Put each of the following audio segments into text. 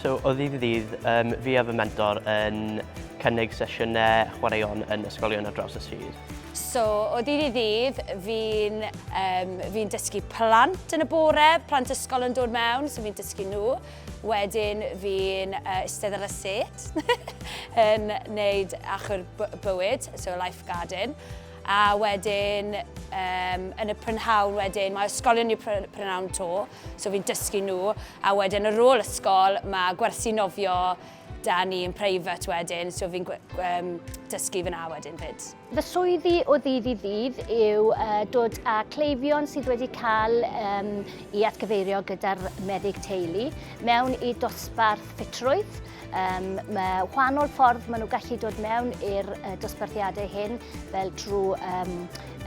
So, o ddydd i ddydd, um, fi a fy mentor yn cynnig sesiynau chwaraeon yn ysgolion ar draws y sir. So, o ddydd i ddydd, fi'n um, fi dysgu plant yn y bore, plant ysgol yn dod mewn, so fi'n dysgu nhw. Wedyn fi'n uh, istedd ar y set yn neud achor bywyd, so life garden. A wedyn, um, yn y prynhawn wedyn, mae ysgolion i'r prynhawn to, so fi'n dysgu nhw. A wedyn ar ôl ysgol, mae gwersi nofio da ni yn private wedyn, so fi'n um, dysgu fyna wedyn fyd. Fy swyddi o ddydd i ddydd yw uh, dod â cleifion sydd wedi cael um, i atgyfeirio gyda'r meddyg teulu mewn i dosbarth ffitrwydd. Um, mae wahanol ffordd maen nhw gallu dod mewn i'r uh, dosbarthiadau hyn fel trwy um,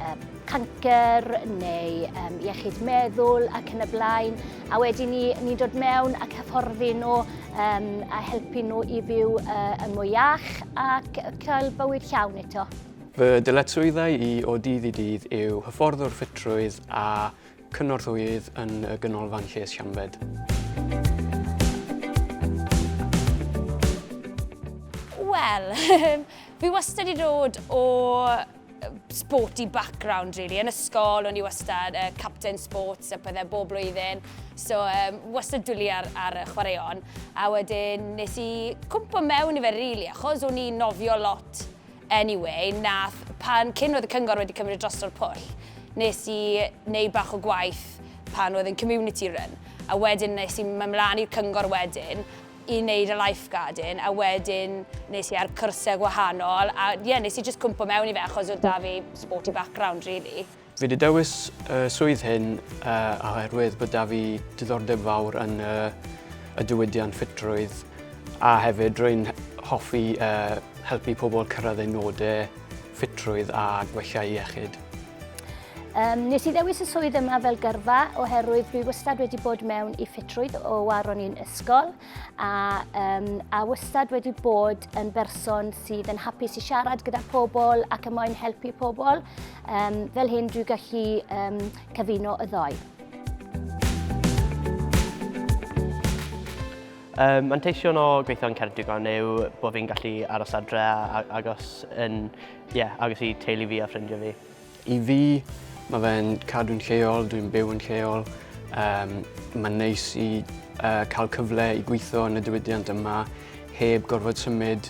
um, cancer neu um, iechyd meddwl ac yn y blaen. a wedyn ni, ni dod mewn ac hyfforddi nhw um, a helpu nhw i fyw uh, yn mwy iach ac cael bywyd llawn eto. Fy dyletswyddau i o dydd i dydd yw hyfforddwr ffitrwydd a cynorthwyydd yn y Ganolfan Lles Siambed. Wel, fi wastad wedi dod o sporty background really. Yn ysgol o'n i wastad uh, captain sports a pethau bob blwyddyn. So um, wastad dwli ar, ar y chwaraeon. A wedyn nes i cwmpa mewn i fe really achos o'n i'n nofio lot anyway. Nath pan cyn oedd y cyngor wedi cymryd dros o'r pwll nes i wneud bach o gwaith pan oedd yn community run. A wedyn nes i mynd mlaen i'r cyngor wedyn i wneud y lifeguarding a wedyn nes i ar cyrsiau gwahanol a ie yeah, nes i just cwmpo mewn i fe achos oedd da fi sporty background really. Fi wedi dewis y swydd hyn uh, oherwydd bod da fi diddordeb fawr yn uh, y diwydiant ffitrwydd a hefyd rwy'n hoffi uh, helpu pobl cyrraedd eu nodau ffitrwydd a gwella iechyd. Um, nes i ddewis y swydd yma fel gyrfa oherwydd dwi wastad wedi bod mewn i ffitrwydd o war o'n i'n ysgol a, um, a wastad wedi bod yn berson sydd yn hapus i siarad gyda pobl ac yn moyn helpu pobl. Um, fel hyn dwi'n gallu um, cyfuno y ddoi. Um, manteision o gweithio yn Ceredigon yw bod fi'n gallu aros adre agos yn Ie, agos i teulu fi a ffrindiau fi. I fi, mae fe'n cadw'n lleol, dwi'n byw yn lleol. Um, mae'n neis i uh, cael cyfle i gweithio yn y diwydiant yma heb gorfod symud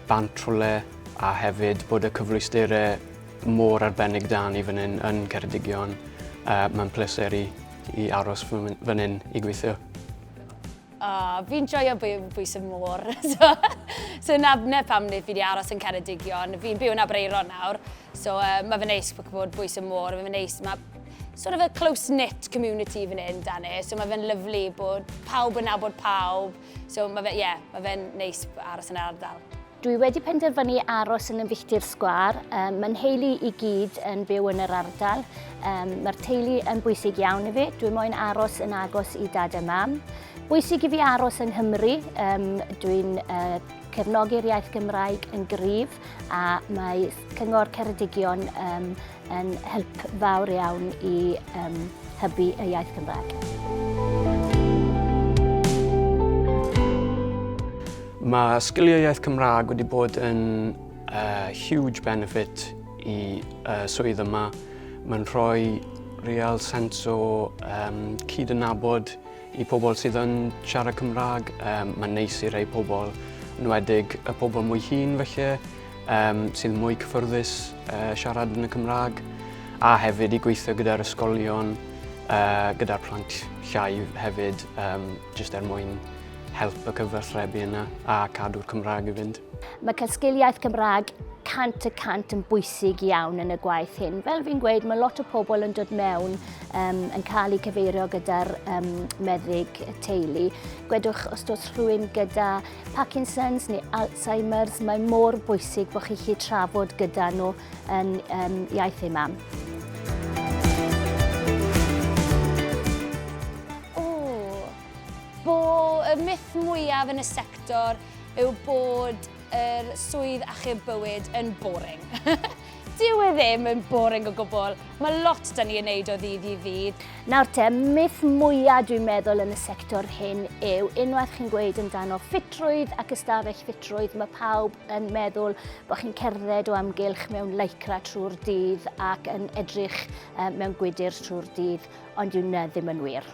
bant rhywle a hefyd bod y cyfleusterau mor arbennig da ni fan hyn yn Ceredigion. Uh, mae'n pleser i, i aros fan hyn i gweithio. Oh, fi'n joio bwys y môr. so, so na, na pam nid fi wedi aros yn Ceredigion. Fi'n byw yn Abreiron nawr. So uh, mae fy neis bod bwys y môr. Mae fy neis, mae sort of a close-knit community fan hyn, dan e. So mae fe'n lyflu bod pawb yn nabod pawb. So mae fe, ie, yeah, mae fe'n neis aros yn yr ardal. Dwi wedi penderfynu aros yn y filltir sgwâr. Um, Mae nheulu i gyd yn byw yn yr ardal. Um, Mae'r teulu yn bwysig iawn i fi. Dwi moyn aros yn agos i dad a mam. Bwysig i fi aros yng Nghymru. Um, Dwi'n uh, cefnogi'r iaith Gymraeg yn gryf a mae Cyngor Ceredigion um, yn help fawr iawn i um, hybu y iaith Gymraeg. Mae sgiliau iaith Cymraeg wedi bod yn uh, huge benefit i uh, swydd yma. Mae'n rhoi real sens o um, cyd yn nabod i pobl sydd yn siarad Cymraeg. Um, mae'n neis i rei pobl, yn wedig y pobl mwy hun felly, um, sydd mwy cyffyrddus uh, siarad yn y Cymraeg a hefyd i gweithio gyda'r ysgolion, uh, gyda'r plant llai hefyd, um, jyst er mwyn help y cyfathrebu yna a cadw'r Cymraeg i fynd. Mae cael sgiliaeth Cymraeg cant y cant yn bwysig iawn yn y gwaith hyn. Fel fi'n gweud, mae lot o pobl yn dod mewn um, yn cael eu cyfeirio gyda'r um, meddyg teulu. Gwedwch os dos rhywun gyda Parkinson's neu Alzheimer's, mae mor bwysig bod chi'n chi trafod gyda nhw yn um, iaith ei mam. y myth mwyaf yn y sector yw bod yr swydd achub bywyd yn boring. Dyw e ddim yn boring o gwbl. Mae lot da ni yn neud o ddydd i ddydd. Nawr te, myth mwyaf dwi'n meddwl yn y sector hyn yw unwaith chi'n gweud amdano ffitrwydd ac ystafell ffitrwydd, mae pawb yn meddwl bod chi'n cerdded o amgylch mewn lycra trwy'r dydd ac yn edrych mewn gwydr trwy'r dydd, ond yw na ddim yn wir.